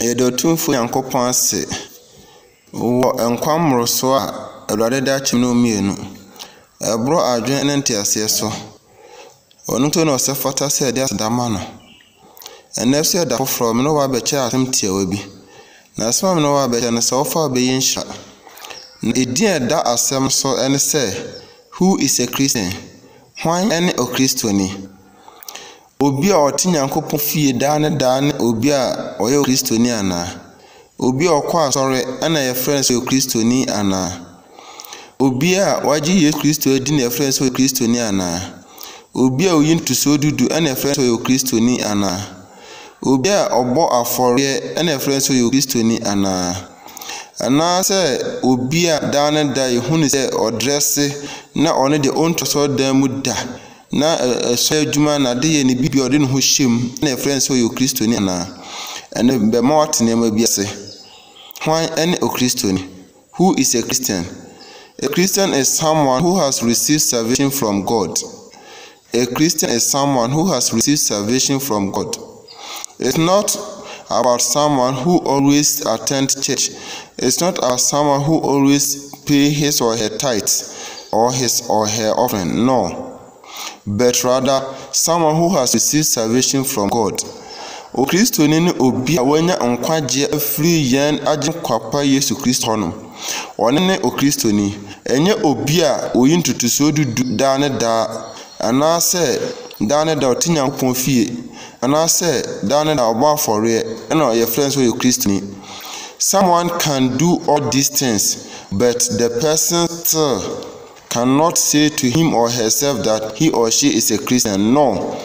Yɛda Otumfoɔ Nyankopɔn ase wɔ nkwa mmoroso a Awurade de akyem no mu mmienu. Ɛboro adwene ne nteaseɛ so. Ɔno nti na ɔsɛ fata sɛ yɛde aseda ma no. Ɛnɛ nso yɛ da foforɔ, me ne wo abɛkyɛ asɛm tiawa bi. Na asɛm a me ne wo abɛkyɛ no sɛ wofa wobɛyɛ nhyira. Na edin a ɛda asɛm so ne sɛ Who is a Christian? Hwan ne Okristoni? Obi a ɔte Nyankopɔn fie daa ne daa ne obi a ɔyɛ Kristoni anaa? Obi a ɔkɔ asɔre na yɛfrɛ no sɛ ɔyɛ Kristoni anaa? Obi a wagye Yesu Kristo adi na yɛfrɛ no sɛ ɔyɛ Kristoni anaa? Obi a ɔyi ntosoɔ dudu na yɛfrɛ no sɛ ɔyɛ Kristoni anaa? Obi a ɔbɔ afɔreɛ na yɛfrɛ no sɛ ɔyɛ Kristoni anaa? Anaasɛ obi a daa ne da yɛhu no sɛ ɔdrɛse na ɔno deɛ ɔntu asɔredan mu da? Ná ɛhyɛ adwuma na adeyɛ ne biribi a ɔde ne ho hyɛ mu na yɛfrɛ no sɛ ɔyɛ Okristoni anaa? Ɛno bɛma woate nneɛma bi ase. Hwan ne Okristoni? Who is a Christian? A Christian is someone who has received salvation from God. A Christian is someone who has received salvation from God. It's not about someone who always attend church, it's not about someone who always pay his or her tithes or his or her offering, no, but rather someone who has received salvation from God. Okristoni ne obi a wanya nkwagyeɛ afiri yɛn agyenkwapa Yesu Kristo hɔ no. Ɔne ne Okristoni, ɛnyɛ obi a oyi ntotosoɔ dudu daa ne daa Anaasɛ daa ne daa ɔte Nyankopɔn fie, anaasɛ daa ne daa ɔbɔ afɔreɛ ɛna yɛfrɛ no sɛ ɔyɛ Kristoni. Someone can do all these things but the person still cannot say to him or herself that he or she is a Christian. No.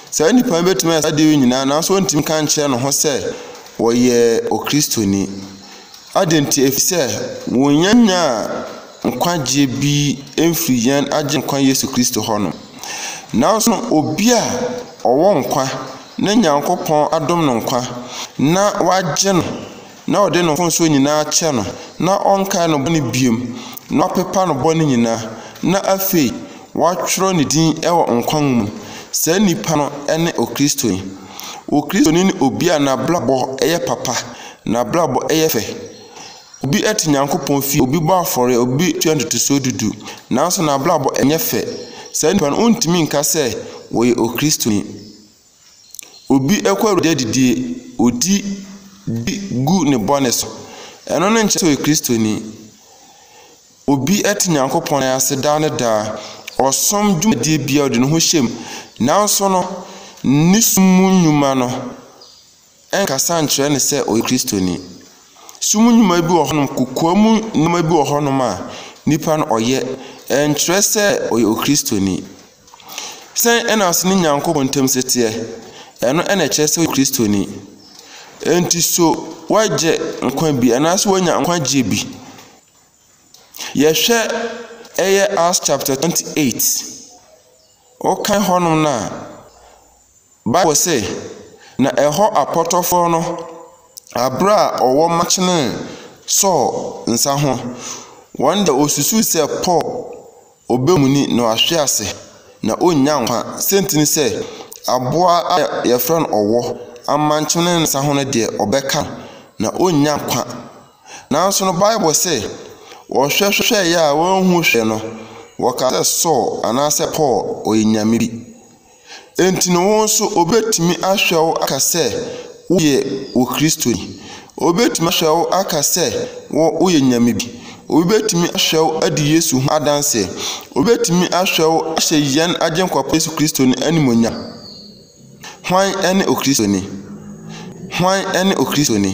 Saa nipa no bɛtumi ayɛ saa deɛ nyinaa nanso ɔntumi ka nkyerɛ ne ho sɛ ɔyɛ Okristoni. Adɛn nti? Ɛfiri sɛ wɔnyanya nkwagyeɛ bi mfiri yɛn Agyenkwa Yesu Kristo hɔ no. Nanso obi a ɔwɔ nkwa na Nyankopɔn adom no nkwa na wagye no na ɔde ne mfomsoɔ nyinaa akyɛ no na ɔnkae no bɔne biom na wapepa no bɔne nyinaa na afei wɔatwerɛ ne din wɔ nkwa nwoma mu, saa nipa no ne Okristoni. Okristoni ne obi a n'abrabɔ yɛ papa, n'abrabɔ yɛ fɛ, Obi te Nyankopɔn fie, obi bɔ afɔreɛ, obi tua ntotosoɔ dudu, nanso n'abrabɔ nyɛ fɛ. Saa nipa no, wontumi nka sɛ ɔyɛ Okristoni. Obi kɔ Awurade adidie, ɔdi, di gu ne bɔne so. Ɛno no nkyerɛ sɛ ɔyɛ Kristoni. Obi te Nyankopɔn nan ase daa ne daa, ɔsom dwumadie biara, ɔde ne ho hyɛ mu, nanso no, ne som mu nnwuma no, ɛnkasa nkyerɛ no sɛ ɔyɛ Kristoni. Sum nnwuma bi wɔ hɔnom, kokoa mu nneɛma bi wɔ hɔnom a nipa no ɔyɛ, ɛnkyerɛ sɛ ɔyɛ Okristoni. Sɛn na ɔsene Nyankopɔn ntam teɛ? Ɛno na ɛkyerɛ sɛ ɔyɛ Kristoni. Enti so woagye nkwa bi anaasɛ woanya nkwagyeɛ bi? Yɛhwɛ ɛyɛ Acts chapter 28. Wokan hɔnom no a, Bible se, Na ɛhɔ apɔtɔfoɔ no, aberɛ a ɔwɔ makyenee Saul nsa ho, wɔn deɛ wɔsusuu sɛ Paul ɔbɛmuni na wahwe ase, na ɔnnya nkwa, sɛ nti ne sɛ aboa a yɛfrɛ no ɔwɔ amankyene ne nsa ho no deɛ ɔbɛka no, na ɔnnya nkwa. Nanso no Bible se, wɔhwɛhwɛeɛ a wɔanhu hwee no, wɔkaa sɛ Saul anaasɛ Paul ɔyɛ nyame bi. Enti no wo nso obetumi ahwɛ wo aka sɛ woyɛ wo Kristoni. Obetumi ahwɛ wo aka sɛ wo woyɛ nyame bi. Obi betumi ahwɛ wo adi Yesu ho adanse. Obetumi ahwɛ wo ahyɛ yɛn Agyenkwa pa Yesu Kristo no animuonyam. Hwan ne Okristoni? Hwan ne Okristoni?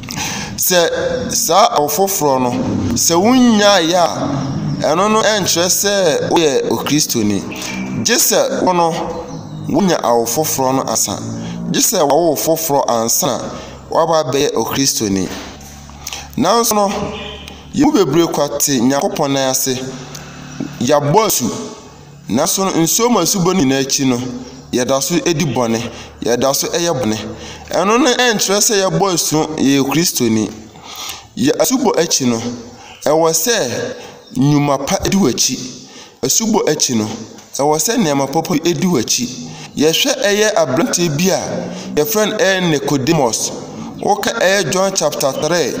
Sɛ saa ɔfoforɔ no, sɛ wonnyaeɛ a, ɛno no nkyerɛ sɛ woyɛ Okristoni. Gye sɛ wo no, woanya awo foforɔ no ansa. Gye sɛ wawo wo foforɔ ansa na woaba abɛyɛ Okristoni. Nanso no, yɛn mu bebree kwati Nyankopɔn nan ase. Yɛabɔ asu. Nanso nsuo mu asubɔ no nyinaa akyi no, yɛda so di bɔne. Yɛda so yɛ bɔne. Ɛno no nkyerɛ sɛ yɛabɔ asu, yɛyɛ Kristoni. Yɛ asubɔ akyi no, ɛwɔ sɛ nnwuma pa di w'akyi. Asubɔ akyi no, ɛwɔ sɛ nneɛma papa bi di w'akyi. Yɛhwɛ ɛyɛ aberanteɛ bi a yɛfrɛ no ɛyɛ Nicodemus. Woka ɛyɛ John chapter 3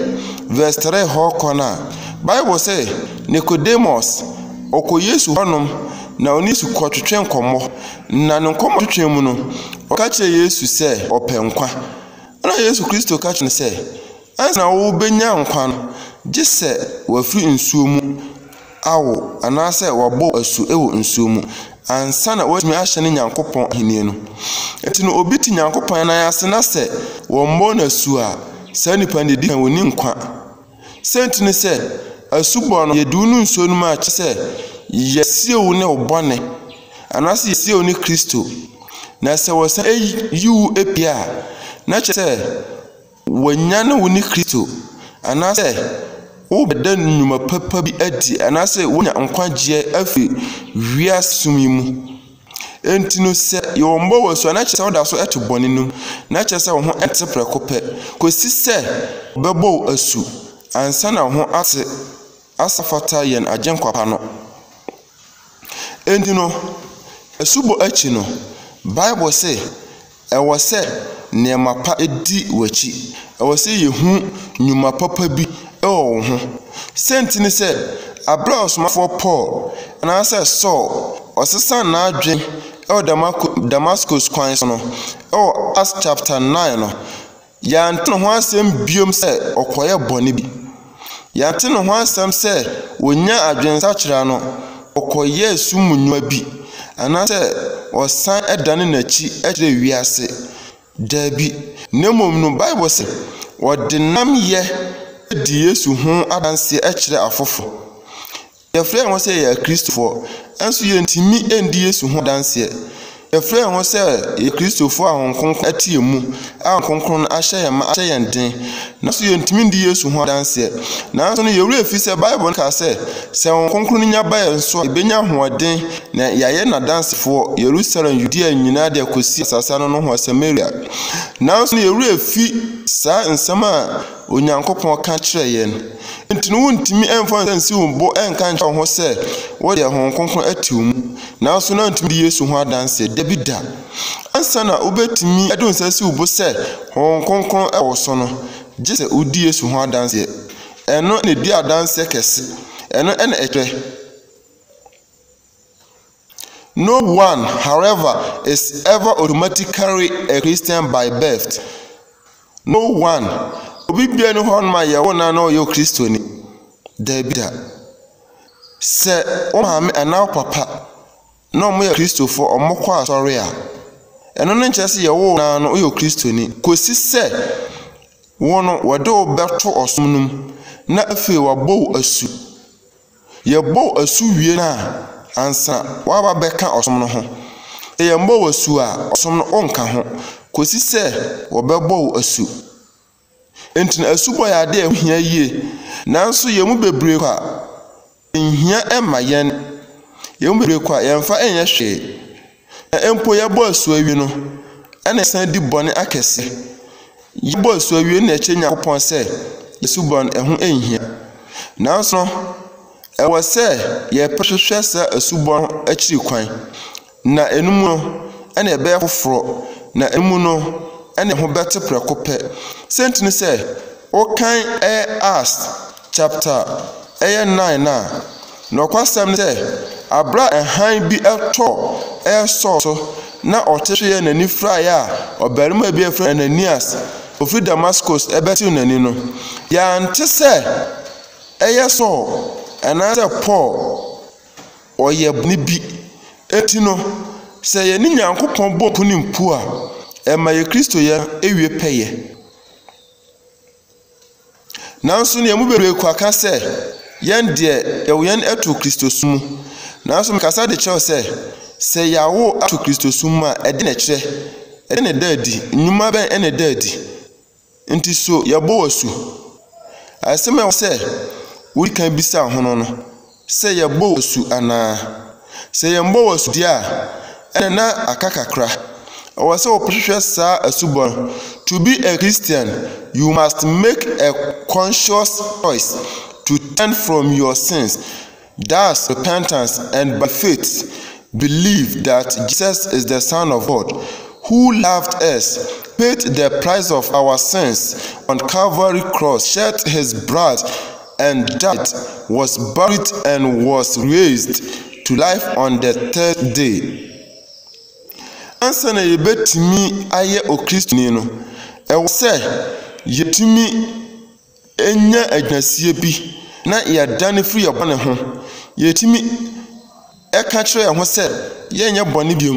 verse 3 hɔ kɔ no a, Bible sɛ Nicodemus Ɔkɔ Yesu hɔnom na ɔne Yesu kɔtwetwe nkɔmmɔ, na ne nkɔmmɔtwetwe mu no, ɔka kyerɛ Yesu sɛ ɔpɛ nkwa. Ɛnna Yesu Kristo ka kyerɛ no sɛ, Ansa na wobenya nkwa no, gye sɛ wɔafiri nsuo mu awo anaasɛ wɔabɔ wo asu wɔ nsuo mu ansa na woatumi ahyɛne Nyankopɔn Ahennie no. Enti no obi te Nyankopɔn nan ase na sɛ wɔmmɔɔ no asu a, saa nipa no deɛ ɛdi kan ɔnni nkwa. Siantsir nye sɛ, asubɔ no, yɛdze wo no nsuo no mu a, kyerɛ sɛ, yɛsiew wo ne wo bɔne, anaasɛ yɛsiew wo ne Kristo. Na sɛ wɔsan yi wo pue a, na kyerɛ sɛ, wɔanyan wo ne Kristo, anaasɛ worebɛda nnwuma papa bi adi, anaasɛ woenya nkwagyeɛ afi wiase sum yi mu. Enti no, sɛ yɛwɔ mma wɔ su a, na kyerɛ sɛ woda so te bɔne no mu, na kyerɛ sɛ wo ho nte prɛko pɛ, kosi sɛ wɔbɛbɔ wo asu ansa na wo ho ate asa fata yɛn Agyenkwa pa no. Enti no, asubɔ akyi no, Bible se, Ɛwɔ sɛ nneɛma pa di w'akyi. Ɛwɔ sɛ yehu nnwuma papa bi wɔ wo ho. Sɛ nti ne sɛ, bere a ɔsomafoɔ Paul, anaasɛ Saul, ɔsesaa n'adwene wɔ Damasko kwan so no, wɔ Acts chapter nine no, Yɛante ne ho asɛm biom sɛ ɔkɔyɛ bɔne bi. Yɛante ne ho asɛm sɛ ɔnyaa adwensakyera no, ɔkɔyɛɛ sum mu nnwuma bi, anaasɛ ɔsan dane n'akyi kyerɛɛ wiase. Dabi, na mmom no, Bible se, Wɔde nnamyɛ di Yesu ho adanseɛ kyerɛ afoforo. Yɛfrɛ yɛn ho sɛ yɛyɛ Akristofoɔ, nanso yɛntumi ndi Yesu ho adanseɛ. Yɛfrɛ yɛn ho sɛ yɛyɛ Akristofoɔ a Honhom Kronkron te yɛn mu, a Honhom Kronkron no ahyɛ yɛn ma ahyɛ yɛn den, nanso yɛntumi ndi Yesu ho adanseɛ. Nanso no, yɛn werɛ fi sɛ Bible no ka sɛ, sɛ Honhom Kronkron no nya ba yɛn so a, yɛbɛnya ahoɔden na yɛayɛ n'adansefoɔ, Yerusalem, Yudea nyinaa de akɔsi asase ano nohoa, Samaria. Nanso no, yɛn werɛ fi saa nsɛm a Onyankopɔn ka kyerɛɛ yɛn. Enti no wontumi mfa nsiw wo bo nka nkyerɛ wo ho sɛ wode Honhom Kronkron ate wo mu. Nanso na wontumi di Yesu ho adanse. Dabi da. Ansa na wobetumi de wo nsa asi wo bo sɛ Honhom Kronkron wɔ wo so no, gye sɛ wudi Yesu ho adanse. Ɛno na edi adanse kɛse. Ɛno na ɛkyerɛ. No one, however, is ever automatically a Christian by birth. No one, obi biara ni hɔ ma yɛwo no na ɔyɛ Kristoni. Dabi da. Sɛ wo maame anaa wo papa na wɔyɛ Kristofo, wɔkɔ asɔre a, ɛno no nkyerɛ sɛ yɛwo no no ɔyɛ Kristoni. Kosi sɛ wo no wɔde wo bɛto ɔsom no mu na afei wɔabɔ wo asu. Yɛbɔ wo asu wie no a, ansa woaba abɛka ɔsom no ho. Yɛammɔ wo asu a, ɔsom no wonka ho kɔsi sɛ wɔbɛbɔ wo asu. Enti no asubɔ yɛ ade a ɛho hia yie. Nanso yɛn mu bebree kɔ a, ɛnhia mma yɛn. Yɛn mu bebree kɔ a, yɛmfa nyɛ hwee. Na mpo yɛbɔ asu awie no, ɛnna yɛsan di bɔne akɛse. Yɛbɔ asu awie na yɛkyerɛ Nyankopɔn sɛ yɛn suban ho nhia. Nanso no, ɛwɔ sɛ yɛpɛ hwehwɛ saa asubɔ no akyiri kwan, na ɛno mu no, ɛnna yɛbɛyɛ foforɔ, na ɛno mu no, ɛnna yɛn ho bɛte prɛko pɛ. Sɛ nti ne sɛ, wokan ɛyɛ as Chapter ɛyɛ nnan no a, nokwasɛm ne sɛ, abere a hann bi tɔ ɛresɔ so na ɔte so yɛ n'ani furaeɛ a ɔbarima bi a yɛfrɛ Ananias ofi Damascus bɛtew n'ani no, yɛante sɛ ɛyɛ Saul anaasɛ Paul ɔyɛ bɔne bi. Enti no, sɛ yɛne Nyankopɔn bɔ nkonim mpo a, ɛma yɛn Kristoyɛ no wie pɛyɛ. Nanso nea emu bebree kura ka sɛ, Yɛn deɛ, yɛwo yɛn ato Kristosom mu. Nanso mekasa de kyerɛ wo sɛ, sɛ yɛawo ato Kristosom mu a, ɛde na ɛkyerɛ? Ɛde na ɛda adi? Nnwuma bɛn na ɛda adi? Nti so yɛbɔ wo asu? Asɛm a ɛwɔ hɔ sɛ wudi kan bisa ho no no, Sɛ yɛbɔ wo asu anaa? Sɛ yɛmmɔ wo asu deɛ a, ɛnna na aka kakra. Ɛwɔ sɛ wɔhwehwɛ saa asubɔ no. To be a Christian, you must make a conscious choice to turn from your sins, thus repentance, and by faith believe that Jesus is the Son of God who loved us, paid the price of our sins on Calvary cross, shed his blood, and died, was buried and was raised to life on the third day. Ansa na yɛbɛtumi ayɛ Okristoni no, ɛwɔ sɛ yɛtumi nya agyinasie bi na yɛdane firi yɛn bɔne ho. Yɛtumi. ɛka kyerɛ yɛn ho sɛ yɛnyɛ bɔne bio,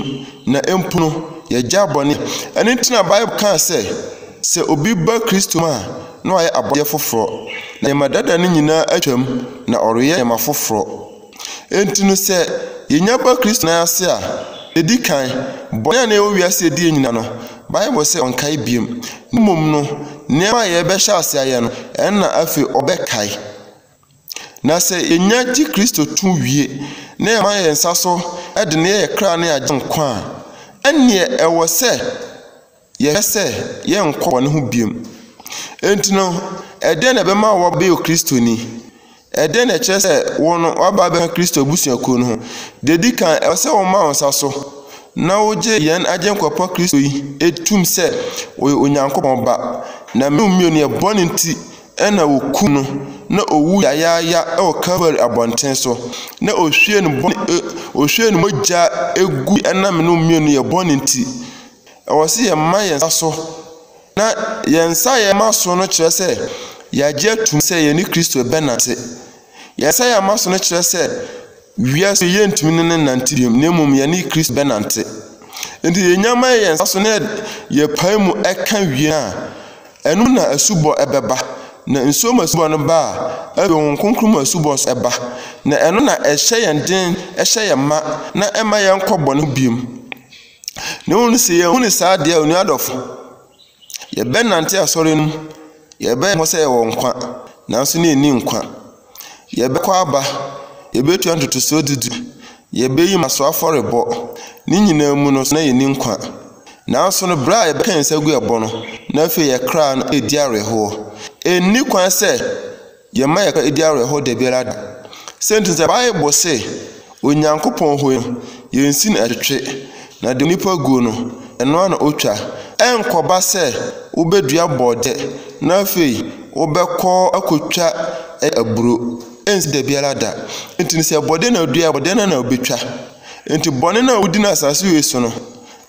na mpo no, yɛagyae bɔne. Ɛno nti na Bible kaa sɛ, sɛ obi ba Kristo mu a, na wayɛ abɔdeɛ foforɔ. Na nneɛma dada no nyinaa atwam, na ɔreyɛ nneɛma foforɔ. Enti no, sɛ yɛnya ba Kristo nan ase a, ɛdi kan, bɔne a na ɛwɔ wiase a ɛdi yɛn nyinaa no, Bible sɛ ɔnkae bio. Na mmom no, nneɛma a yɛbɛhyɛ ase ayɛ no, ɛno na afei ɔbɛkae. Na sɛ yenya gye Kristo to wie na yɛma yɛn nsa so de no yɛ yɛn kra ne Agyenkwa a, ɛnneɛ ɛwɔ sɛ yɛhwɛ sɛ yɛrenkɔ bɔne ho bio. Enti no, ɛdɛn na ɛbɛma woabɛyɛ Kristoni? Ɛdɛn na ɛkyerɛ sɛ wo no woaba abɛka Kristo abusuakuo no ho? Deɛ ɛdi kan, ɛwɔ sɛ woma wo nsa so na wogye yɛn Agyenkwa pa Kristo yi tom sɛ ɔyɛ Onyankopɔn Ba, na mmienu mmienu yɛ bɔne nti na wokum no, na owu yayaaya wɔ Kalvari abɔnten so, na ohwie ne bɔne, e, ohwie ne mogya egu ɛnam no mmienu yɛ bɔne nti. Ɛwɔ sɛ yɛma yɛn nsa so, na yɛn nsa a yɛma so no kyerɛ sɛ yɛagye atum sɛ yɛne Kristo bɛnante. Yesaia ma so no kyerɛ sɛ wiase yɛntumi ne no nnante bio, na mmom yɛne Kristo bɛnante. Enti yɛnya ma yɛn nsa so na yɛpae mu ka wie no a, ɛno na asubɔ bɛba. Na nsuo mu asubɔ no ba a, afei Honhom Kronkron mu asubɔ nso ba. Na ɛno na ɛhyɛ yɛn den, ɛhyɛ yɛn ma, na ɛmma yɛnkɔ bɔne ho bio. Na mmom no, sɛ yɛahu no saa deɛ a, onua adɔfo, Yɛbɛnante asɔre no mu, yɛbɛyɛ ho sɛ yɛwɔ nkwa, nanso na yɛnni nkwa. Yɛbɛkɔ aba, yɛbɛtua ntotosoɔ du du, yɛbɛyi mmaso afɔrebɔ, ne nyinaa mu no na yɛnni nkwa. Nanso no, berɛ a yɛbɛka yɛn nsa gu ɛbɔ no, na afei yɛn kra no redi awerɛhoɔ. Ɛnni kwan sɛ. Yɛmma yɛka edi awerɛhow da biara da. Sɛ nti sɛ Bible se Onyankopɔn hui no, yensi no twetwe, na deɛ onipa gu no, ɛno ara na otwa. Ɛrenkɔba sɛ wobedua borɔdɛ na afei wobɛkɔ akotwa aburo. Ensi da biara da. Enti sɛ borɔdɛ na wodua a, borɔdɛ no ara na wobetwa. Enti bɔne no a wodi no asase wei so no,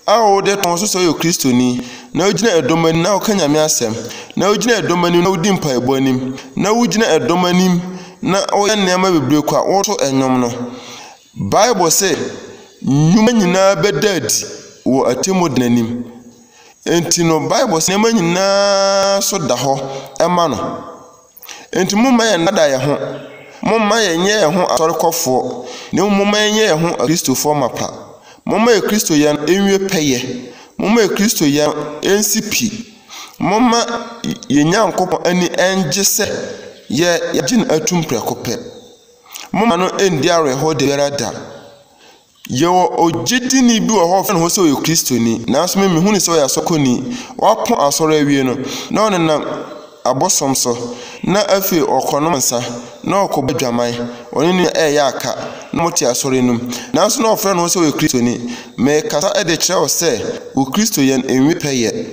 a wode ka ho so sɛ woyɛ Kristoni, na wugyina ɛdɔm anim na woka Nyame asɛm, na wugyina ɛdɔm anim na wudi mpaebɔ anim, na wugyina ɛdɔm anim na woyɛ nneɛma bebree kɔ a woto nnwom no. Bible se, Nnwuma nyinaa bɛda adi wɔ atemmu da no anim. Enti no, Bible se nneɛma nyinaa so da hɔ ma no. Enti momma yɛnnada yɛn ho. Momma yɛnyɛ yɛn ho asɔrekɔfoɔ, na mmom momma yɛnyɛ yɛn ho Akristofoɔ mapa. Momma Akristo yɛ no nwie pɛyɛ. Momma Akristo yɛ no nsi pi. Momma yɛn Nyankopɔn ani nnye sɛ yɛagye no atum prɛko pɛ. Momma no nni awerɛhoɔ da biara da. Yɛwɔ ogyidini bi wɔ hɔ a wɔfrɛ ne ho sɛ ɔyɛ Kristoni, nanso me mehu no sɛ ɔyɛ asɔkɔni. Wapɔn asɔre awie no, na ɔnenam abosom so, na afei ɔkɔnom nsa, na ɔkɔbɔ adwaman. Ɔne ne nua reyɛ aka, na wɔte asɔre no mu, nanso na ɔfrɛ ne ho sɛ ɔyɛ Kristoni. Merekasa de rekyerɛ wo sɛ wo Kristoyɛ no nwie pɛyɛ.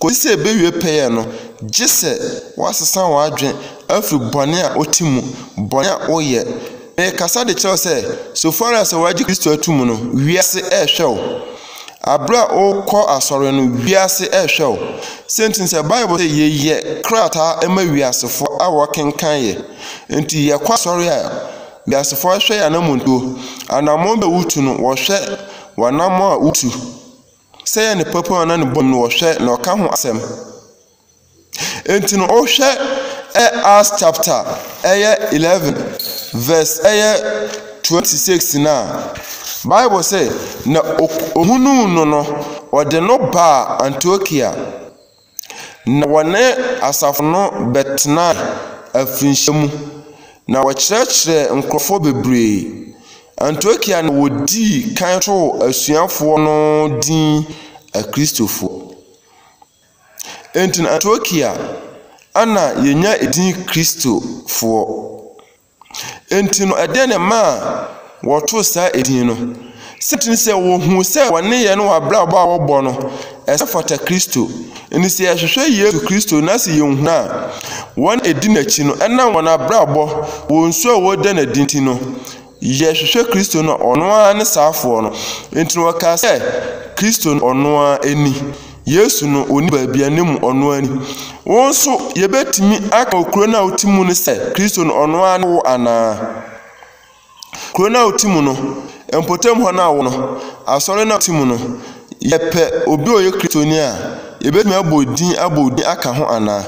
Kosi sɛ ebewie pɛyɛ no, gye sɛ woasesa w'adwene afi bɔne a wote mu, bɔne a woyɛ, Merekasa de kyerɛ wo sɛ, so far as sɛ wɔagye Kristo atum no, wiase rehwɛ wo. Aberɛ a wokɔ asɔre no, wiase rehwɛ wo. Sɛnti ne sɛ Bible sɛ yɛyɛ krataa ma wiasefoɔ a wɔkenkan yɛ. Nti yɛkɔ asɔre a, wiasefoɔ hwɛ yɛ anamontuo. Anamɔn bɛ wotu no, wɔhwɛ w'anamɔn a wotu. Sɛ yɛ ne papa na ne bɔne mu no, wɔhwɛ na ɔka ho asɛm. Enti no, wohwɛ ɛ Acts chapter ɛyɛ eleven verse ɛyɛ twenty six no a, Bible sɛ, na ohunuu no no, ɔde no baa Antiokia, na wɔne asafo no bɛtenaa afirinhyia mu, na wɔkyerɛkyerɛɛ nkurɔfoɔ bebree. Antiokia na wɔdii kan too asuafoɔ no din Akristofoɔ. Enti na Antiokia na yɛnya din Kristofoɔ. Enti no, ɛdeɛ na ɛmaa wɔtoo saa edin no. Sɛnti ne sɛ wɔhuu sɛ wɔn nneyɛɛ ne wɔn abrabɔ a wɔbɔ no, ɛsɛ fata Kristo. Enti sɛ yɛhwehwɛ Yesu Kristo na sɛ yɛhu no a, wɔn a ɛdi n'akyi no, ɛnam wɔn abrabɔ, wɔn su a wɔda no adi nti no, Yɛhwehwɛ Kristo no a, ɔno ara ne saafoɔ no. Enti no wɔkaa sɛ, Kristo no ɔno ara ni. Yesu no, ɔni baabi a ne mu ɔno ara ni. Wo nso, yɛbɛtumi aka wɔ kuro no a wote mu no sɛ, Kristo no ɔno ara ne wo anaa? Kuro no a wote mu no, mpɔtam hɔ no a wowɔ no, asɔre no a wote mu no, Yɛpɛ obi a ɔyɛ Kristoni a, yɛbɛtumi abɔ din abɔ wo din aka ho anaa?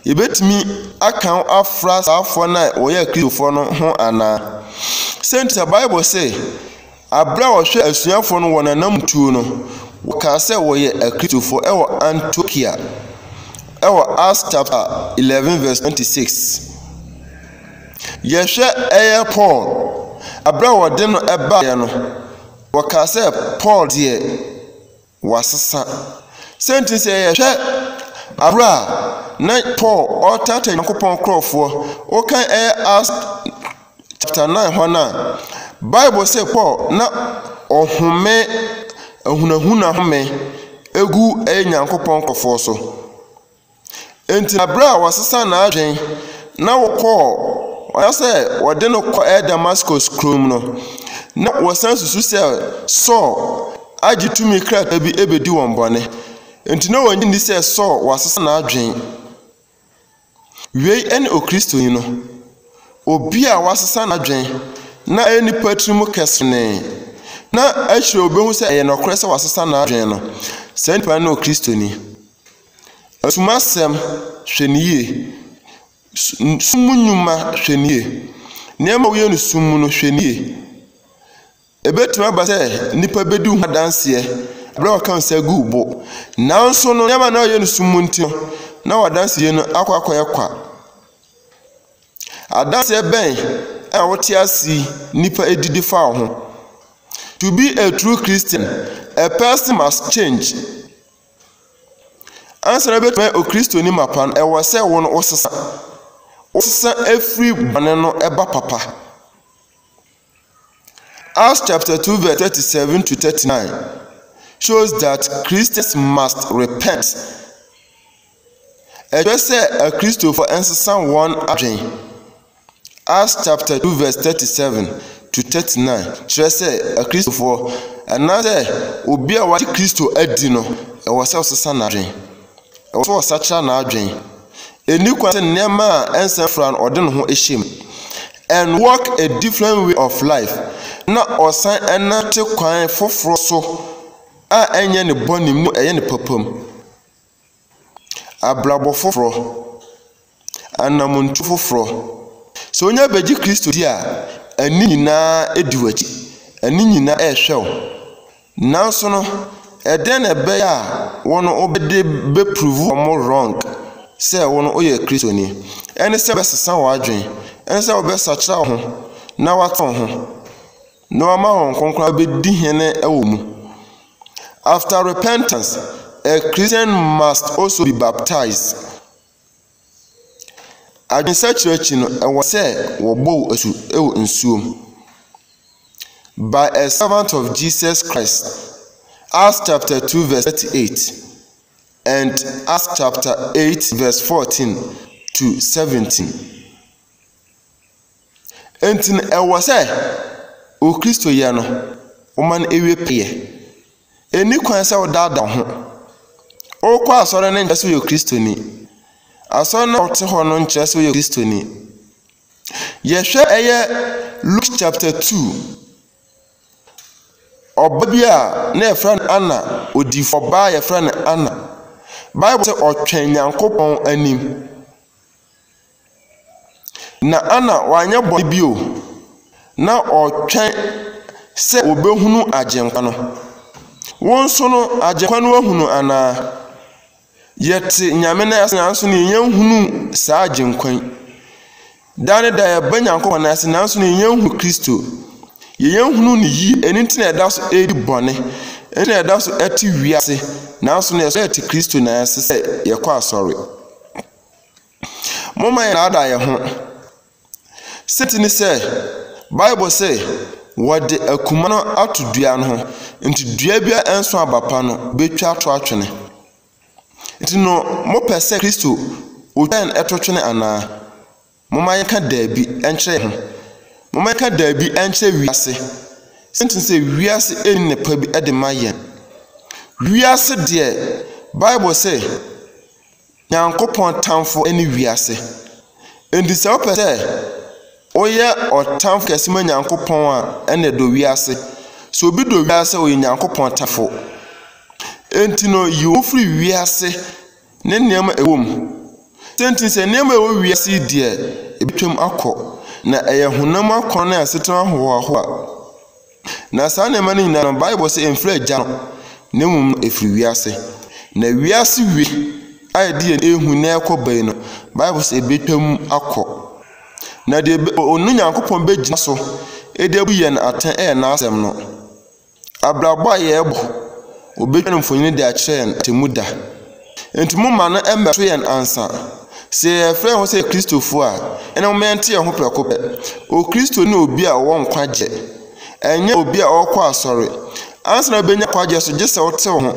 Yɛbɛtumi aka wo afra saafoɔ no a wɔyɛ Kristofoɔ no ho anaa? Sɛntia Bible sɛ, aberɛ a wɔhwɛ asuafoɔ no wɔn anamtuo no, wɔkaa sɛ wɔyɛ Akristofoɔ ɛwɔ Antiokia, ɛwɔ Acts chapter 11 verse 26. Yɛhwɛ ɛyɛ Paul, aberɛ a wɔde no ɛbaeɛ no, Wɔkaa sɛ, Paul deɛ, wasesa. Sɛ nti sɛ yɛhwɛ aberɛ a na Paul ɔretata Nyankopɔn nkurɔfoɔ, wokan ɛyɛ Acts chapter 9 hɔ no a, Bible sɛ Paul na ɔhome ahunahuna home gu ɛyɛ Nyankopɔn nkurɔfoɔ so. Enti bere a wɔsesa n'adwene na wɔkɔɔ anaasɛ wɔde no kɔ Damascus kurom no, na wɔsan susu sɛ Saul agye tumi krataa bi abedi wɔn bɔne. Enti na wɔnnye nni sɛ Saul wasesa n'adwene. Wei ne Okristoni no, obi a wasesa n'adwene na ɛyɛ nipa tirim kɛsenee, na akyire obehu sɛ ɛyɛ nokorɛ sɛ wasesa n'adwene no. Saa nipa no ne Okristoni. Sum asɛm, hwɛ no yie. Sum mu nnwuma, hwɛ no yie. Nneɛma a woyɛ no sum mu no, hwɛ no yie. Ɛbɛtumi aba sɛ nnipa bɛdi wo ho adanseɛ berɛ a wɔka wo nsa gu wo bo. Nanso no, nneɛma na woyɛ no sum mu nti no, na w'adanseɛ no akɔ akɔyɛ kwa. Adanseɛ bɛn a wote ase yi nnipa di de fa wo ho? To be a true Christian, a person must change. Ansa na wobɛtumi ayɛ Okristoni mapa no, ɛwɔ sɛ wo no wosesa. Wosesa firi bɔne no ba papa. Acts chapter 2 verse 37 to 39 shows that Christians must repent. Ɛkyerɛ sɛ Akristofo nsesa wɔn adwene. Acts chapter 2 verse 37 to 39 kyerɛ sɛ Akristofoɔ anaasɛ obi a wagye Kristo adi no, ɛwɔ sɛ ɔsesa n'adwene. Ɛwɔ sɛ ɔsakyera n'adwene. Ɛni kwan sɛ nneɛma a ɛnsɛ fra no ɔde ne ho hyɛ mu. And walk a different way of life na ɔsan ɛnante kwan foforɔ so a ɛnyɛ ne bɔne mu ɛyɛ ne papa mu. abrabɔ foforɔ, anammɔntuo foforɔ. Sɛ wonya bɛgye Kristo di a, ani nyinaa di w'akyi, ani nyinaa rehwɛ wo. Nanso no, ɛdɛn na ɛbɛyɛ a wɔn wobɛde bɛpuruvu wɔn wrong sɛ wo no woyɛ Kristoni? Ɛne sɛ wobɛsesa w'adwene, ɛne sɛ wobɛsakyera wo ho na woatɔn ho. Na ɔama hɔn nkonkor abedi hen wɔ mu. After repentance, a Christian must also be baptized. Adwensakyera akyi no, ɛwɔ sɛ wɔbɔ wo asu wɔ nsuom. By a servant of Jesus Christ, Acts chapter 2 verse 38 and Acts chapter 8 verse 14 to 17. Enti na ɛwɔ sɛ wo Kristoyɛ no, woma no wie pɛyɛ. Enni kwan sɛ wodaadaa wo ho. Wokɔ asɔre no nkyerɛ sɛ woyɛ Kristoni. Asɔre no a wote hɔ no nkyerɛ sɛ woyɛ Kristoni. Yɛhwɛ ɛyɛ Luke chapter 2. Ɔba bi a na yɛfrɛ no Anna, odifo ɔbaa a yɛfrɛ no Anna. Bible sɛ ɔtwɛn Nyankopɔn anim. Na Anna wanyɛ bɔne bio. Ná ɔretwɛn sɛ obehunu Agyenkwa no. Wo nso no, Agyenkwa no ahu no anaa? Yɛte Nyame nan ase nanso na yɛnya nhunu saa Agyenkwa yi. Da ne da yɛba Nyankopɔn nan ase nanso na yɛnya nhunu Kristo. Yɛnya nhunu no yie, ɛno nti na yɛda so redi bɔne, ɛno nti na yɛda so te wiase, nanso na yɛsɔ yɛte Kristo nan ase sɛ yɛkɔ asɔre. Momma yɛnnaadaa yɛn ho. Sɛ ti ne sɛ, Bible se, wɔde akuma no ato dua no ho, nti dua bi a ɛnso aba pa no betwa to atwene. Nti no, mopɛ sɛ Kristo otwɛn ɛto twene anaa? Momma yɛnka daabi nkyerɛ yɛn ho. Momma yɛnka daabi nkyerɛ wiase. Sɛnti sɛ wiase nni nnepa bi de ma yɛn. Wiase deɛ, Bible se, Nyankopɔn tamfo ne wiase. Enti sɛ wopɛ sɛ woyɛ ɔtamfo kɛse ma Nyankopɔn a, ɛnna dɔ wiase. Sɛ obi dɔ wiase a, ɔyɛ Nyankopɔn tamfo. Enti no, yi wo firi wiase ne nneɛma a ɛwɔ mu. Sɛ nti, sɛ nneɛma a ɛwɔ wiase yi deɛ, ɛbɛtwam akɔ, na ɛyɛ honam akɔnnɔ ne asetena ahohoahoa. Na saa nneɛma no nyinaa no, Bible sɛ ɛmfiri Agya no, na mmom no ɛfiri wiase. Na wiase wie a yɛde yɛn ehu na ɛkɔ bɛyi no, Bible sɛ ɛbɛtwam akɔ. Na deɛ ɔno Nyankopɔn bɛgyina so de abu yɛn atɛn yɛ n'asɛm no. Abrabɔ a yɛrebɔ, ɔbɛtwa no mfonini de akyerɛ yɛn atemmu da. Enti momma no mmɛto yɛn ansa. Sɛ yɛfrɛ yɛn ho sɛ Kristofo a, ɛnna momma yɛnte yɛn ho prɛko pɛ. Okristo ne obi a ɔwɔ nkwagye, ɛnyɛ obi a ɔkɔ asɔre. Ansa na wubenya nkwagye nso, gye sɛ wotew ho.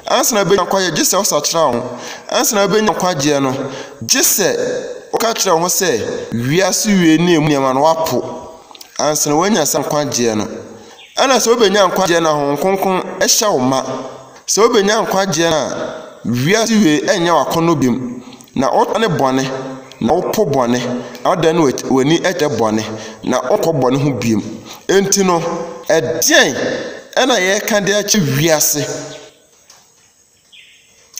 Ansa na wubenya nkwagye, gye sɛ wosakyera wo ho. Ansa na wubenya nkwagye no, gye sɛ woka kyerɛ wo ho sɛ wiase wiei ne emu nneɛma no woapo. Ansa na woanya saa nkwagye no, ɛnna sɛ wubenya nkwagye no a, Honhom Kronkron hyɛ wo ma. Sɛ wubenya nkwagye a wiase wiei renyɛ w'akɔnnɔ bio na wodane bɔne na wopo bɔne na wodan w'ani kyerɛ bɔne na wonkɔ bɔne ho bio. Enti no, ɛdeɛn na yɛreka de akyerɛ wiase?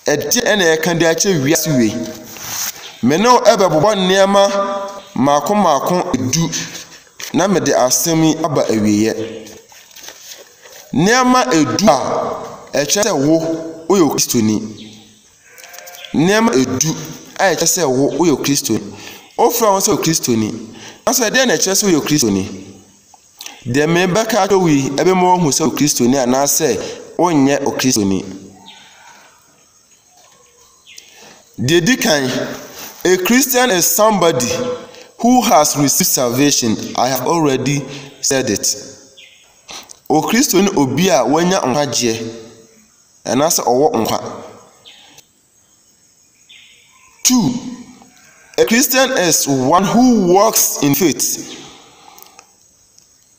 Ɛdeɛn na yɛreka de akyerɛ wiase wei? Me ne wo bɛbobɔ nneɛma mmaako mmaako du na mede asɛm yi aba awieeɛ. Nneɛma du a ɛkyerɛ sɛ wo woyɛ Okristoni. Nneɛma du a ɛkyerɛ sɛ wo woyɛ Okristoni. Wofrɛ wo sɛ Okristoni. Nanso ɛdeɛn na ɛkyerɛ sɛ woyɛ Okristoni? Deɛ merebɛka akyerɛ wo yi ɛbɛma woahu sɛ woyɛ Okristoni anaasɛ wonyɛ Okristoni. Deɛ di kan, a Christian is somebody who has received salvation. I have already said it. Okristo ne obi a wanya nkwagyeɛ anaasɛ ɔwɔ nkwa. Two, a Christian is one who walks in faith.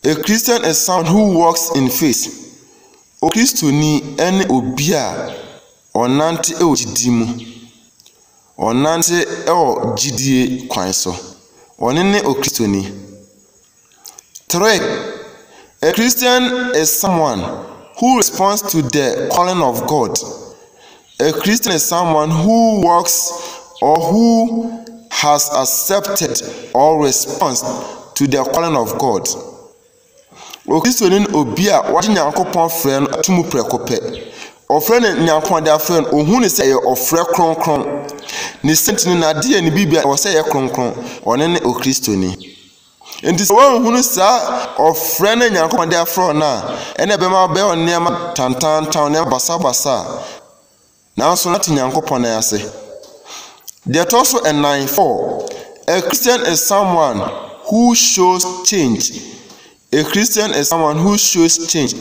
A Christian is someone who walks in faith. Okristoni ne obi a ɔnante wɔ gyidi mu. Ɔnante wɔ gyidie kwan so. Ɔno ne Okristoni. Three, A Christian is someone who responds to the calling of God. A Christian is someone who works or who has accepted or responds to the calling of God. Okristoni ne obi a wagye Nyankopɔn frɛ no ato mu prɛko pɛ. Ɔfrɛ no Nyankopɔn de afrɛ no, ohu no sɛ ɛyɛ ɔfrɛ kronkron. Ne sɛ nti no, n'adeyɛ ne biribiara ɛwɔ sɛ ɛyɛ kronkron. Ɔno ne Okristoni. Enti sɛ woanhunu saa ɔfrɛ no a Nyankopɔn de afrɛ wo no a, ɛnna ɛbɛma wobɛyɛ wo nneɛma tantaanta, wo nneɛma basabasa. Nanso na te Nyankopɔn nan ase. Deɛ ɛtɔ so nnan, four, a Christian is someone who shows change. A Christian is someone who shows change.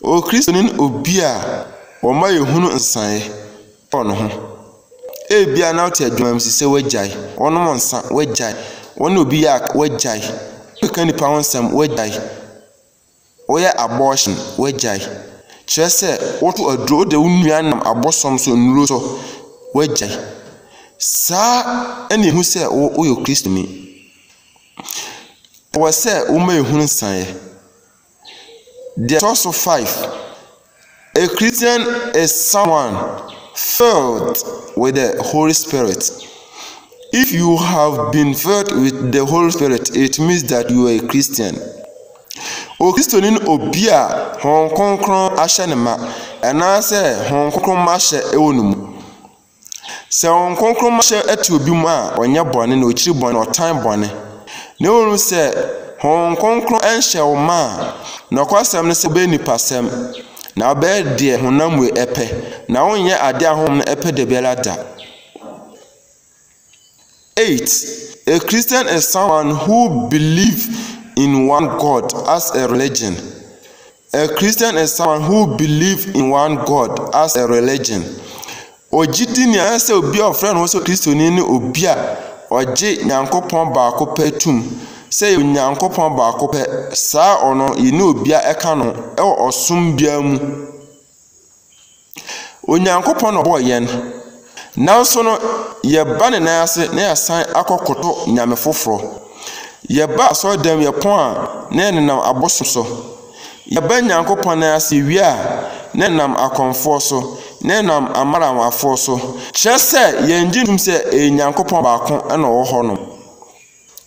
Okristoni ne obi a wɔma yɛhunu nsaeɛ. Pɔ ne ho. Ebia na wote adwuma bi so sɛ woagyae, wɔnom nsa, woagyae, wɔne obi yɛ aka, woagyae, wokeka nipa ho nsɛm, woagyae, woyɛ abortion, woagyae. Kyerɛ sɛ woto aduro, wode wo nnua nam abosom so, nnuro so, woagyae. Saa ɛna ehu sɛ woyɛ Kristoni. Ɛwɔ sɛ woma ehu nsaeɛ. Deɛ ɛtɔ so five, a Christian is someone filled with the Holy Spirit. If you have been filled with the Holy Spirit, it means that you are a Christian. Okristoni ne obi a Honhom Kronkron ahyɛ ne ma, anaasɛ Honhom Kronkron ma hyɛ wɔ ne mu. Sɛ Honhom Kronkron ma hyɛ to obi mu a, ɔnyɛ bɔne na okyiri bɔne na ɔtan bɔne. Na mmom sɛ Honhom Kronkron nhyɛ wo ma a, nokwasɛm ne sɛ wobɛyɛ nipasɛm, na wobɛyɛ deɛ honam wei pɛ, na wonyɛ adeɛ a honhom no pɛ da biara da. Eight, A Christian is someone who believe in one God as a religion. A Christian is someone who believe in one God as a religion. Ogyidini a ɛsɛ obi a ɔfrɛ ne ho sɛ Kristoni ne obi a ɔgye Nyankopɔn baako pɛ tum sɛ yɛ Onyankopɔn baako pɛ. Saa ɔno yɛ ne obi a ɛka no ɛwɔ ɔsom biara mu. Onyankopɔn na ɔbɔɔ yɛn, nanso no, yɛba ne nan ase na yɛasan akɔkoto nyame foforɔ. Yɛba asɔredan mu, yɛpɔn a, na yɛnenam abosom so. Yɛba Nyankopɔn nan ase, yɛwie a, na yɛnam akɔmfoɔ so, na yɛnam amaramanfoɔ so. Kyerɛ sɛ, yɛngye ntom sɛ ɛyɛ Nyankopɔn baako na ɔwɔ hɔnom.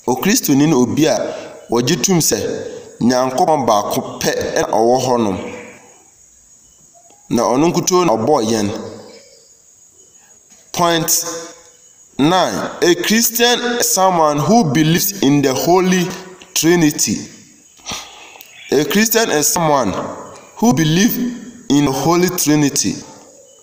Okristoni ne obi a ɔgye tom sɛ Nyankopɔn baako pɛ na ɔwɔ hɔnom. Na ɔno nkutoo na ɔbɔɔ yɛn. Point nine, a Christian is someone who believes in the holy trinity. A Christian is someone who believes in the holy trinity.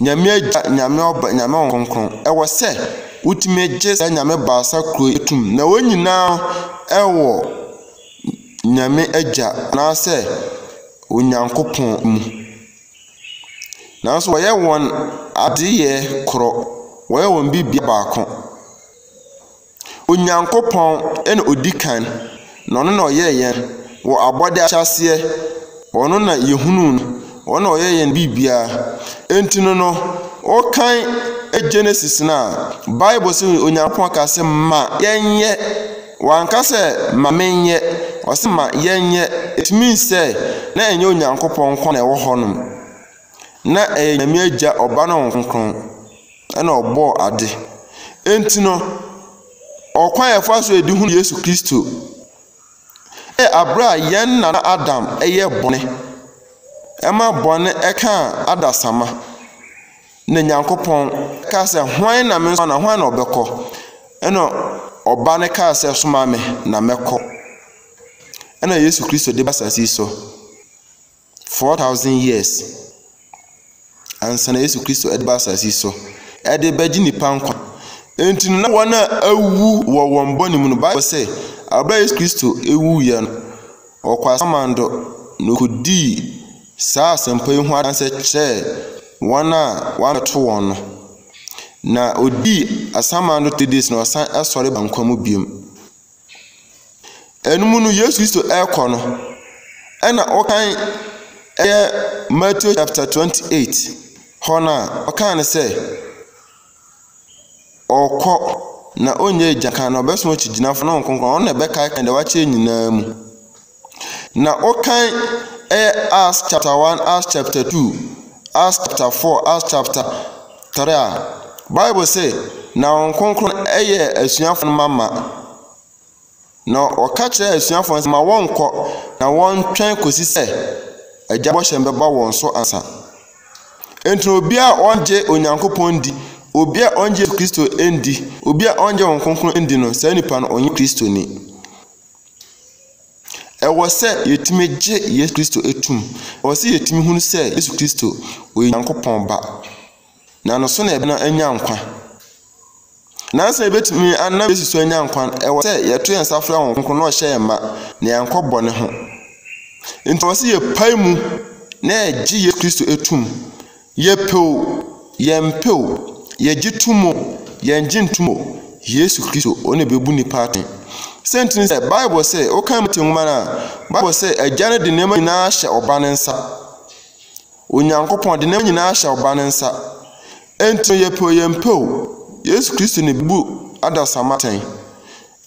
Nyame Agya, Nyame Ɔba, Nyame Honhom Kronkron. Ɛwɔ sɛ wotumi gye saa Nyame baasa koro yi tom na wɔn nyinaa ɛwɔ Nyame Agya anaasɛ Onyankopɔn mu. Nanso wɔyɛ wɔn adeyɛ korɔ, wɔyɛ wɔn biribiara baako. Onyankopɔn na ɔdi kan, na ɔno na ɔyɛɛ yɛn wɔ abɔde ahyɛaseɛ. Ɔno na yɛhunuu no, ɔno na ɔyɛ yɛn biribiara. Enti no no, wokan Genesis no a, Bible sɛ Onyankopɔn ka sɛ ma yɛnyɛ. Wanka sɛ ma menyɛ, ɔsɛ ma yɛnyɛ. It means sɛ na ɛnyɛ Onyankopɔn nko na ɛwɔ hɔnom. Na ɛyɛ Nyame Agya, Ɔba ne Honhom Kronkron. na ɔbɔɔ ade. Enti no, ɔkwan a yɛfa so de hu Yesu Kristo yɛ bere a yɛn nana Adam yɛ bɔne, ɛma bɔne kaa adasamma, na Nyankopɔn ka sɛ, Hwan na me nso na hwan na ɔbɛkɔ? Ɛna ɔba no kaa sɛ, Soma me na mɛkɔ. Ɛna Yesu Kristo de ba asase so. Four thousand years ansa na Yesu Kristo ɛde ba asase yi so ɛde bɛgye nipa nkwa. Enti no na wɔn a awu wɔ wɔn bɔne mu no, Bible sɛ abira Yesu Kristo ewu yɛ no, ɔkɔ asamando na okodii saa asɛmpa yi ho adanse kyerɛɛ wɔn a wɔabɛto wɔn no. Na odii asamando three days na ɔsan ɛsɔre ba nkwa mu biom. Ɛno mu no, Yesu Kristo rekɔ no, ɛna ɔkan ɛyɛ Matthew chapter 28 hɔ no a, ɔkan no sɛ, ɔkɔ na ɔnyɛ agya kan na ɔbɛsoma okyigyinafo no Honhom Kronkron, ɔno na ɛbɛkaekae deɛ wakyerɛ nyinaa mu. Na ɔkan ɛyɛ Acts chapter one, Acts chapter two, Acts chapter four, Acts chapter three a Bible sɛ na wɔn kronkron ɛyɛ asuafo no ma ma. Na ɔka kyerɛ asuafo no sɛ ma wɔnkɔ na wɔntwɛn kɔsi sɛ agya bɔhyɛ no bɛba wɔn so ansa. Enti obi a ɔngye Onyankopɔn ndi, obi a ɔngye Kristo ndi, obi a ɔngye wɔn kronkron ndi no, saa nipa no ɔnyɛ Kristoni. Ɛwɔ sɛ yɛtumi gye Yesu Kristo tom. Ɛwɔ sɛ yɛtumi hunu sɛ Yesu Kristo, ɔyɛ Onyankopɔn Ba, na ne so na yɛbɛnam anya nkwa. Nanso yɛbɛtumi anam Yesu so anya nkwa no, ɛwɔ sɛ yɛto yɛn nsa frɛ Honhom Kronkron na ɔhyɛ yɛn ma na yɛankɔ bɔne ho. Nti ɛwɔ sɛ yɛpae mu na yɛgye Yesu Kristo tom. Yɛpɛ o, yɛmpɛ o, yɛgye tom o, yɛnngye ntom o, Yesu Kristo, ɔno na ɛbɛbu nnipa atɛn. Sɛ nti ne sɛ, Bible sɛ, wokan Mate nwoma no a, Bible sɛ, Agya no de nneɛma nyinaa ahyɛ Ɔba no nsa. Onyankopɔn de nneɛma nyinaa ahyɛ Ɔba no nsa. Enti no, yɛpɛ o, yɛmpɛ o, Yesu Kristo na ɛbɛbu adasamma atɛn.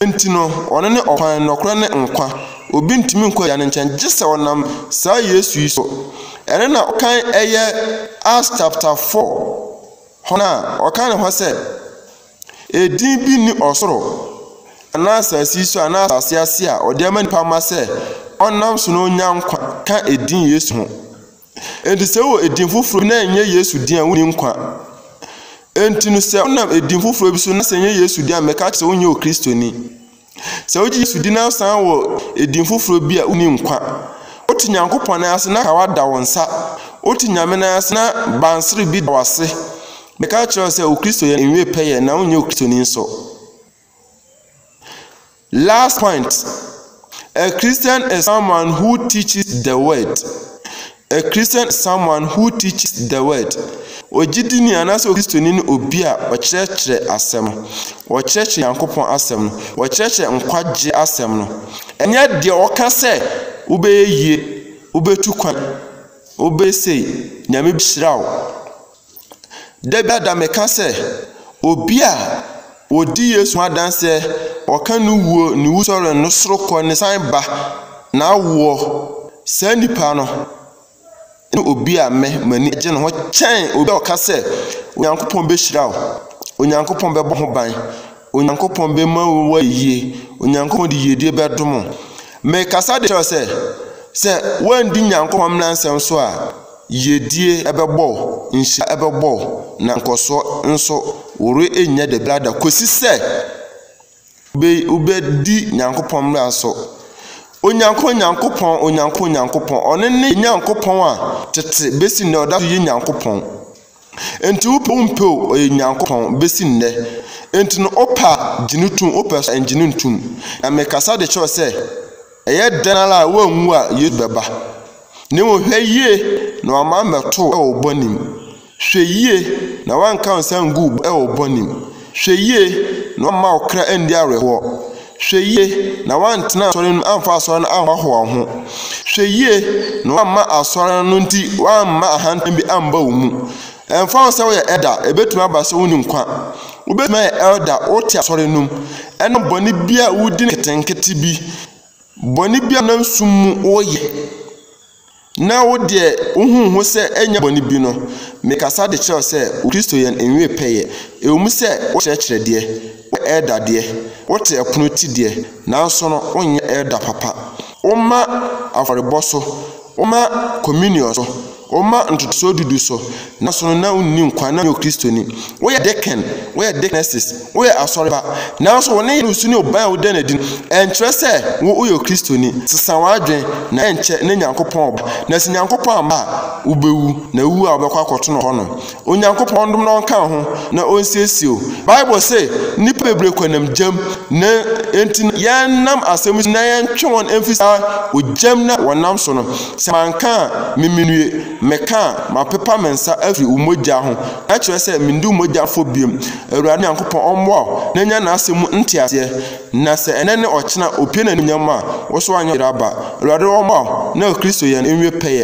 Enti no, ɔno ne ɔkwan, nnɔkorɛ ne nkwa. Obi ntumi nkɔ agya no nkyɛn gye sɛ ɔnam saa Yesu yi so. Ɛno na ɔkan ɛyɛ Acts chapter 4 hɔ no a, ɔka ne hɔ sɛ, Edin bi nni ɔsoro anaa asase yi so anaa asase ase a ɔde ama nipa ma sɛ ɔnam so na onya nkwa ka edin Yesu ho. Enti sɛ wowɔ edin foforo bi na ɛnyɛ Yesu din a, wonni nkwa. Enti no sɛ wonam edin foforo bi so na sɛ ɛnyɛ Yesu din a, mɛka akyerɛ sɛ wonyɛ Okristoni. Sɛ wogye Yesu din na wosan wɔ edin foforo bi a, wonni nkwa. Wote Nyankopɔn nan ase na kawa da wo nsa. Wote Nyame nan ase na bansere bi da w'ase. Mɛka akyerɛ wo sɛ Okristoyɛ no nwie pɛyɛ na wonyɛ Okristoni nso. Last point, A Christian is someone who teaches the word. A Christian is someone who teaches the word. Ogyidini anaasɛ Okristoni ne obi a ɔkyerɛkyerɛ asɛm. Ɔkyerɛkyerɛ Nyankopɔn asɛm no. Ɔkyerɛkyerɛ nkwagye asɛm no. Ɛnyɛ deɛ ɔka sɛ wobɛyɛ yie, wobɛtu kwan, wobɛsei, Nyame bɛhyira wo. Da biara da meka sɛ, obi a ɔdi Yesu ho adanseɛ, ɔka ne wuo, ne wusɔre, ne sorokɔ, ne san ba, n'awoɔ, saa nipa no ne obi a me m'ani gye ne ho kyɛn obi a ɔka sɛ, Onyankopɔn bɛhyira wo, Onyankopɔn bɛbɔ ho ban. Onyankopɔn bɛma wo ayie. Onyankopɔn de yiedie bɛdom wo. Mekasa de kyerɛ sɛ, sɛ woandi Nyankopɔn mmara nsɛm so a, yiedie ɛbɛbɔ wo, nhyira ɛbɛbɔ wo, na nkɔsoɔ nso wore ɛnya da biara da kɔsi sɛ wobɛdi Nyankopɔn mmara so. Onyankopɔn Nyankopɔn, Onyankopɔn Nyankopɔn, ɔno ne Nyankopɔn a tete bɛsi nnɛ ɔda so yɛ Nyankopɔn. Enti wopɛ wompɛ o, ɔyɛ Nyankopɔn, besi nnɛ. Enti no wopɛ a, gye no tom, wopɛ so a, ngye no ntom. Na mekasa de kyerɛ wo sɛ, ɛyɛ dɛn ara a woanwu a, Yesu bɛba. Na mmom hwɛ yie na wamma ammɛto wo wɔ wo bɔne mu. Hwɛ yie na wanka wo nsa angu wo wɔ wo bɔne mu. Hwɛ yie na wamma wo kra anni awerɛhoɔ. Hwɛ yie na woantena asɔre no mu amfa asɔre no anhoahoa wo ho. Hwɛ yie na woamma asɔre no nti woamma ahantan bi amba wo mu. Ɛmfa ho sɛ woyɛ ɛda, ɛbɛtumi aba sɛ wonni nkwa. Wobɛtumi ayɛ ɛda, wote asɔre no mu, ɛnam bɔne bi a wodi no nketenkete bi, bɔne bi a wonam sum mu woyɛ. Na wo deɛ wohuu ho sɛ ɛnyɛ bɔne bi no, mekasa de kyerɛ wo sɛ wo Kristo yɛn nwe pɛyɛ. Ɛwom sɛ wokyerɛkyerɛ deɛ, woyɛ elder deɛ, wote ɛpono ti deɛ, nanso no wonyɛ elder papa. Womma afɔrebɔ so, womma communion so, womma ntotosoɔ dudu so, Nanso no na onni nkwa, na ɔnyɛ Okristoni. Woyɛ deacon, woyɛ deaconess, woyɛ asɔre ba, nanso wo nneyɛe ne wo su ne wo ban a woda no adi no, ɛnkyerɛ sɛ wo woyɛ Okristoni. Sesa w'adwene, na ɛnkyɛ na Nyankopɔn reba. Na sɛ Nyankopɔn amma a, wubewu, na wuwu a wobɛkɔ akɔto no hɔ no. Onyankopɔn ndom na ɔnka wo ho, na onsiesie wo. Bible se, Nnipa bebree kɔ nam gyam, na enti no yɛnnam asɛm yi so na yɛntwe wɔn mfi saa ogyam no a wɔnam so no. Sɛ manka a, memmue. Meka a, mapepa me nsa afiri wo mogya ho, na kyerɛ sɛ mendi wo mogya fɔ bio. Awurade Nyankopɔn ɔmmoa wo na nya n'asɛm mu nteaseɛ, na sɛ ɛnnɛ ne ɔkyena opue n'animuonyam a, wo so anyɛ ɔyere aba. Awurade ɔmmoa wo na Kristo yɛn nwie pɛyɛ.